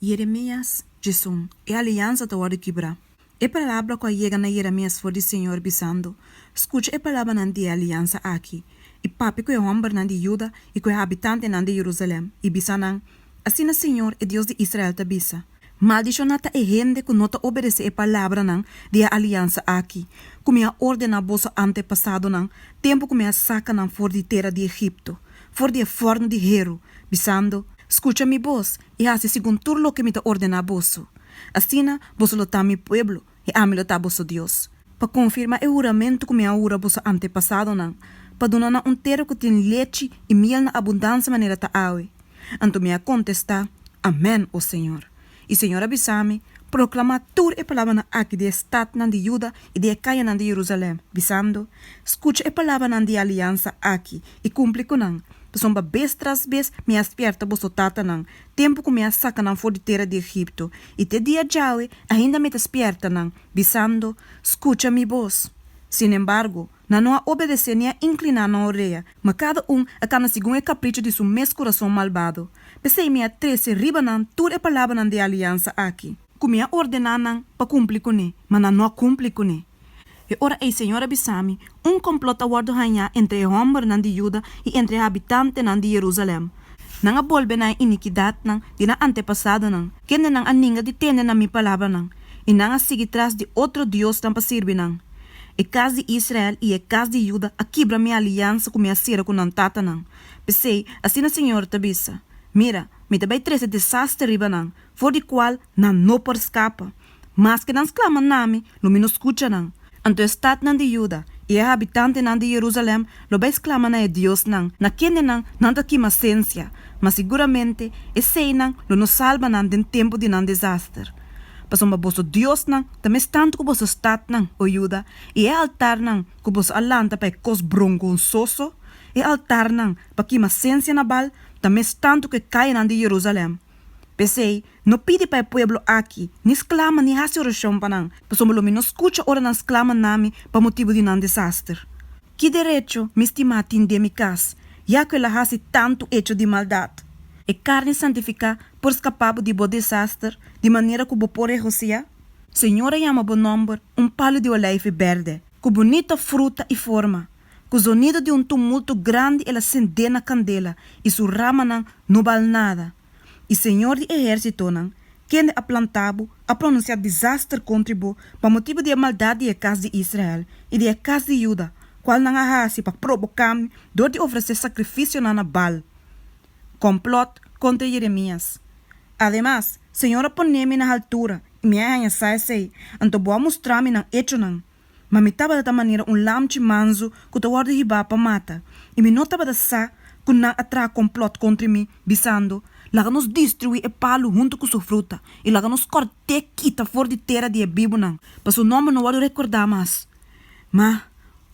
Jeremias, Djezun, e aliansa ta wòrdu kibrá. E palabra ku a yega na Jeremias for di Señor bisando, Skucha e palabranan di e aliansa aki, i papia ku e hòmbernan di Juda i ku e habitantenan di Jerusalèm, i bisa nan, Asina Señor, e Dios di Israel ta bisa, Maldishoná ta e hende ku no ta obedesé e palabranan di e aliansa aki, ku mi a ordená boso antepasadonan, tempu ku mi a saka nan for di tera di Egipto, for di e fòrnu di heru, bisando, Skucha mi bos, i hasi segun tur loke mi ta ordená boso. Asina, boso lo ta mi pueblo, i ami lo ta boso Dios, pa konfirmá e huramentu ku mi a hura boso antepasadonan, pa duna nan un tera ku tin lechi i miel na abundansia manera ta awe. Anto mi a kontestá, Amèn, o señor. I señor a bisa mi, Proklamá tur e palabranan aki di e statnan di Juda i di e kayanan di Jerusalèm, bisando, Skucha e palabranan di aliansa aki, i kumpli ku nan, Pasobra bes tras bes mi a spièrta boso tatanan, tempu ku mi a saka nan for di tera di Egipto, i te dia djawe ainda mi ta spièrta nan, bisando, Skucha mi bos. Sin embargo, nan no a obedesé ni a inkliná nan orea, ma kada un a kanda segun e kapricho di su mes kurason malbado. P'esei mi a trese riba nan tur e palabranan di aliansa aki. Ku mi a ordená nan pa kumpli kuné, ma nan no a kumpli kuné. E ora ei Señor a bisa mi, Un complot a wordo hañá entre e hombernan di Juda i entre e habitantenan di Jerusalem. Nan a bolbe na e inikidatnan di nan antepasadonan, kendenan a ninga di tende na mi palabranan, i nan a sigui tras di otro diosnan pa sirbi nan. E kas di Israel i e kas di Juda a kibra mi aliansa ku mi a sera ku nan tatanan. P'esei, asina Señor ta bisa, Mira, mi ta bai trese desaster riba nan, for di kual nan no por skapa. Maske nan sklama na mi, lo mi no skucha nan. Anto e statnan di Juda i e habitantenan di Jerusalèm lo bai sklama na e diosnan na kendenan nan ta kima sensia, ma siguramente eseinan lo no salba nan den tempu di nan desaster. Pasobra boso diosnan ta mes tantu ku boso statnan, o Juda, i e altarnan ku boso a lanta pa e kos brongonsoso, e altarnan pa kima sensia na Baal, ta mes tantu ku e kayanan di Jerusalèm. P'esei, No pidi pa e pueblo aki, ni sklama ni hasi orashon pa nan, pasobra lo mi no skucha ora nan sklama na mi pa motibu di nan desaster. Ki derecho mi stima tin den mi kas, ya ku el a hasi tantu echo di maldat? E karni santifiká por skapá bo di bo desaster di manera ku bo por regosiá? Señor a yama bo nòmber un palu di olijfi bèrdè, ku bunita fruta i forma. Ku zonidu di un tumultu grandi el a sendé na kandela, i su ramanan no bal nada. I Señor di Ehersitonan, kende a plantá bo, a pronunsiá disaster kontri bo pa motibu di e maldat di e kas di Israel i di e kas di Yuda, kual nan a hasi pa proboká mi dor di ofresé sakrifisionan na Baal. Kòmplòt kontra Yeremias. Ademas, Señor a pon'é mi na haltura i mi a haña sa esei, anto bo a mustra mi nan echonan. Ma mi tabata ta manera un lamchi manzu ku ta wòrdu hibá pa mata, i mi no tabata sa ku nan a traha komplòt kontri mi, bisando, Laga nos destruí e palu huntu ku su fruta, i laga nos kòrt'é kita for di tera di e bibunan, pa su nòmber no wòrdu rekordá mas. Ma,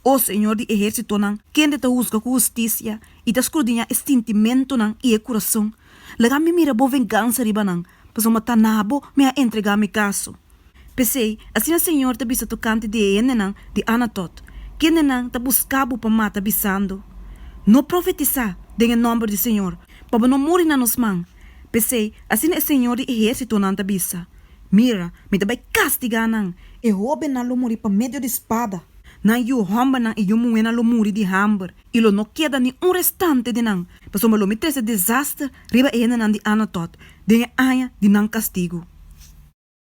o Señor di ehérsitonan, kende ta husga ku hustisia i ta skrudiñá e sintimentunan i e kurason, laga mi mira bo vengansa riba nan, Pasobra mi a ta na bo, mi a entregá mi kaso. P'esei, asina señor ta bisa tokante di e hendenan di Anatot, kendenan ta buská bo pa mata bisando, No profetisá den e nòmber di señor, pa bo no muri na nos man. P'esei, asina e señor di ehérsitonan ta bisa, Mira, mi ta bai kastigá nan, e hóbennan lo muri pa medio di spada, nan yu hòmbernan i yu muhénan lo muri di hamber, i lo no keda ni un restante di nan, pasobra lo mi trese e desaster riba e hendenan di Anatot den e aña di nan kastigu.